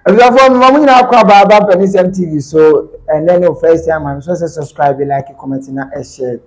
Abusuafoɔ mema mo nyinaa kɔ aba aba mpanisɛm tv so ɛnɛ ne first time a mesɛ sɛ subscribe like comment na ɛhyɛ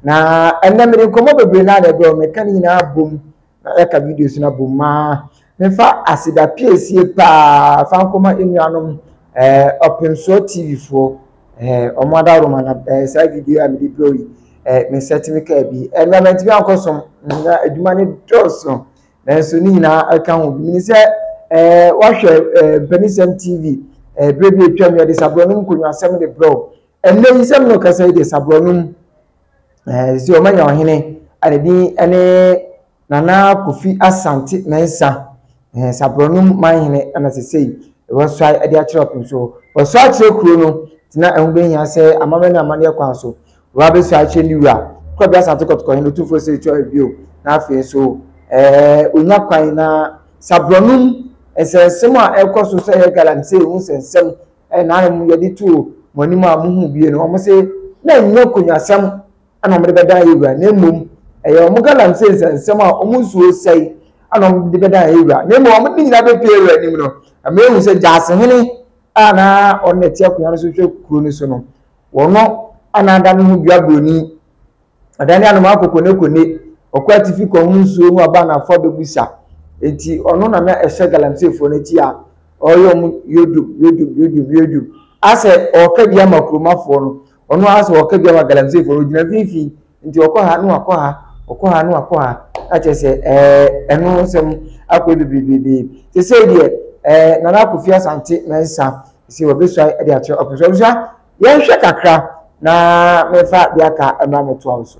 na ɛnɛ mede nkɔmmɔ bebree na ɛbrɛ wo meka ne nyinaa bom na ɛka videos no abom ma mefa aseda piesie paa fa nkɔma nnuanom ɔpemsoɔ tv foɔ ɔmo adaworoma na saa video a mede brɛ yi mesɛtumi kaa bi ɛnna mantumi ankɔsom na adwuma no dɔɔso nanso ne nyinaa ɛka ho bi. Menim sɛ eh, woahwɛ eh, mpanisɛm TV eh, berɛ bi atwam yɛde saborɔnom nkonnwasɛm de brɛ wo. Ɛnnɛ yi sɛ mene ɔkasa yi deɛ saborɔnom eh, sɛ ɔmanya ɔhene a ne din ne Nana Kofi Asante Mensah eh, saborɔnom manhene ɛna sesei wɔsɔe de akyerɛ ɔpem so wɔsɔe akyerɛ kuro no tena ɛho bɛhia sɛ amammerɛ ne amanneɛ kwan so Wura bɛsua akyerɛ ne wura. Kwabena Asante Kɔtɔkɔ Hene Otumfoɔ Sirikyi Ɔhene bio na afei nso ɛɛ onya kwan na Saborɔnom nsɛnsɛm a ɛkɔ so sɛ ɛyɛ galamsey ho nsɛnsɛm ɛna ara mu yɛde too mo anim a mohu bie no wɔn se na ɛnyɛ konwasɛm ɛna wɔn de bɛdan yɛ wura na mmom ɛyɛ wɔn galamsey nsɛnsɛm a wɔn nsuo sɛe ɛna wɔn de bɛdan yɛ wura na mmom wɔn de nyinaa bɛpie wura anim no ɛmɛ ehu sɛ gyaase hene a na ɔno na ɛte akonnwa no so hwɛ kuro no so no. Wɔnnɔ anaada no ho dua buroni, Ɔdane anomaa kokonekone, Ɔkɔ atifi kɔhono nsuo no aba anaafoɔ abɛbu sa. Enti ɔno na na ɛhyɛ galamseefoɔ no akyi a ɔreyɛ wɔn yodum, yodum, yodum, yodum. Asɛ ɔreka bi ama kuromafoɔ no, ɔno ara asɛ ɔreka bi ama galamseefoɔ no, ɔgyina mfimfini. nti ɔkɔ ha na wakɔ ha ɔkɔ ha na wakɔ ha na kyerɛ sɛ ɛɛ ɛno nsɛm akɔ bebree te sɛ deɛ ɛɛ nana akofi asante mɛnsa sɛ wɔbɛsua de akyerɛ ɔpɛ so ɔbɛsua yɛnhwɛ kakra na mɛfa de aka ɛma mɛtoa wo so.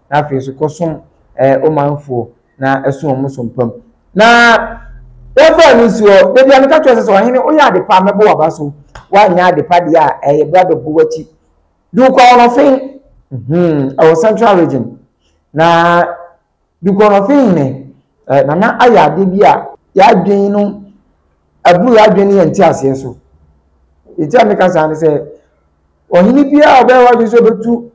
na afei nso kɔsom ɛɛ ɔmanfoɔ na ɛso wɔn so mpa mu. Na wɔfaa no nsuo hɔ. Da bi a meka kyerɛɛ sɛ, sɛ ɔhene woyɛ ade pa a, mɛbɔ w'aba so. Woanyɛ ade pa deɛ a, ɛyɛ bra bɛbɔ w'akyi. Dukɔ Ɔnɔfe, hmm, ɛwɔ Central Region. Na Dukɔ Ɔnɔfe hene, eh, Nana ayɛ ade bi a yɛadwene no aburu yɛadwene ne yɛn nteaseɛ so. Enti a meka saa ne sɛ, ɔhene biara a ɔbɛyɛ w'adwene sɛ ɔbɛtu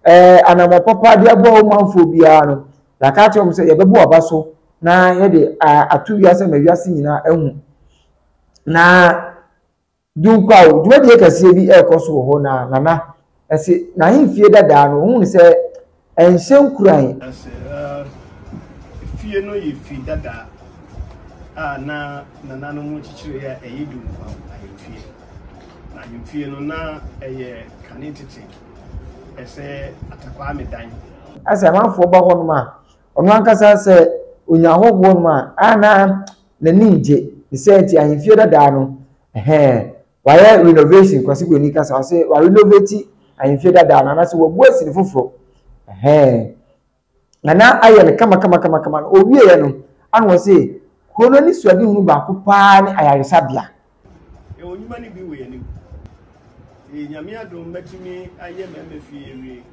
Ɛɛ anamɔ papa de aboa wo manfoɔ biara no, yɛaka akyerɛ wɔn sɛ yɛbɛbɔ aba so na yɛde ato wiase ma wiase nyinaa ahu. Na Dunkwaw dwumadie kɛseɛ bi ɛrekɔ so wɔ hɔ na Nana ɛse n'ahemfie dadaa no ɔhunu sɛ ɛnhyɛ nkuran. Ɛse fie no yɛ fie dadaa a na nananom kyekyeree a ɛyɛ Dunkwaw ahemfie. Na ahemfie no na ɛyɛ kane tete. Ɛsɛ Atakwaa me dan. Asɛ amanfoɔ ba hɔnom a, ɔno ankasa sɛ ɔnya ahɔhoɔ nom a, a na n'ani ngye. Ne saa nti ahemfie dadaa no, ɛhɛɛ, wayɛ renovation, Kwasi Broni kasa, ɔse wa renovate ahemfie dadaa no, anaasɛ wabue sini foforɔ, ɛhɛɛ. Na na ayɛ no kamakamakamakama no, ɔwieeɛ no, ana wɔn se kuro no ani suadehunu baako paa ne ayaresabea. Yɛwɔ nnwuma no bi wɔ yɛn anim. Nti Nyame adom matumi ayɛ mmarima fie awie.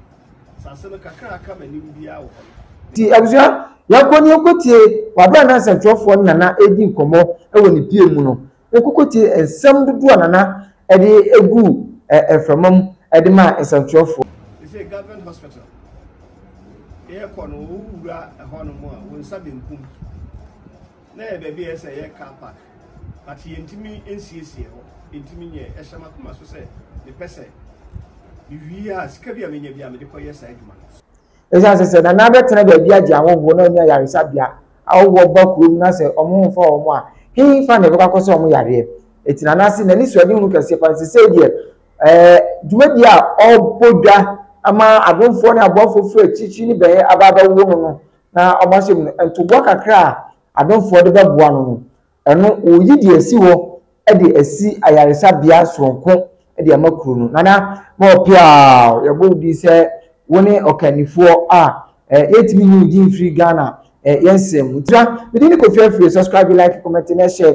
Asase no kakra a aka m'anim biara wɔ hɔ no. Nti abusua, yɛnkɔ na yɛnkɔtie Wabena Nansa Twerɛfoɔ no Nana redi nkɔmmɔ wɔ ne pie mu no. Wokoko tiee nsɛm dodoɔ a Nana de guu mframa mu de maa nsɛmtwerɛfoɔ. Seisei government hospital yɛ kɔ no wo wura ɛhɔ nom a wo nsa benkum na yɛ baabi a ɛsɛ yɛ car park but yɛ ntumi nsiesie hɔ ntumi nyɛ ɛhyɛ makoma so sɛ me pɛsɛ me wie a sika bi a me nya bi a me de kɔ yɛ saa adwuma no. Ɛsiane sɛ sɛ Nana bɛtena baabi agye ahɔhoɔ na ɔnni ayaresabea, ahɔhoɔ ba kurom na sɛ wɔmfa wɔn a, hefa na ɛbɛkɔ akɔsa wɔn yareɛ? Enti Nana ase na anisoadehunu kɛseɛ pa nti sei deɛ, ɛɛ, dwumadie a ɔbɔ dwa ama adomfoɔ ne aboafoɔ firi akyirikyiri ne bɛyɛ aba abɛwo no no na wɔahyɛ mu no, ntoboa kakra a adomfoɔ de bɛboa no no, Ɛno, wɔreyi deɛ asi hɔ de asi ayaresabea soronko de ama kuro no. Nana, ma ɔpɛ a, yɛbɔ wo din sɛ wo ne ɔkannifoɔ a eh, yɛntumi nyi wo din mfiri Ghana eh, yɛn nsɛm mu. Nti na, me din ne Kofi Afriyie. Subscribe, like, comment, na share.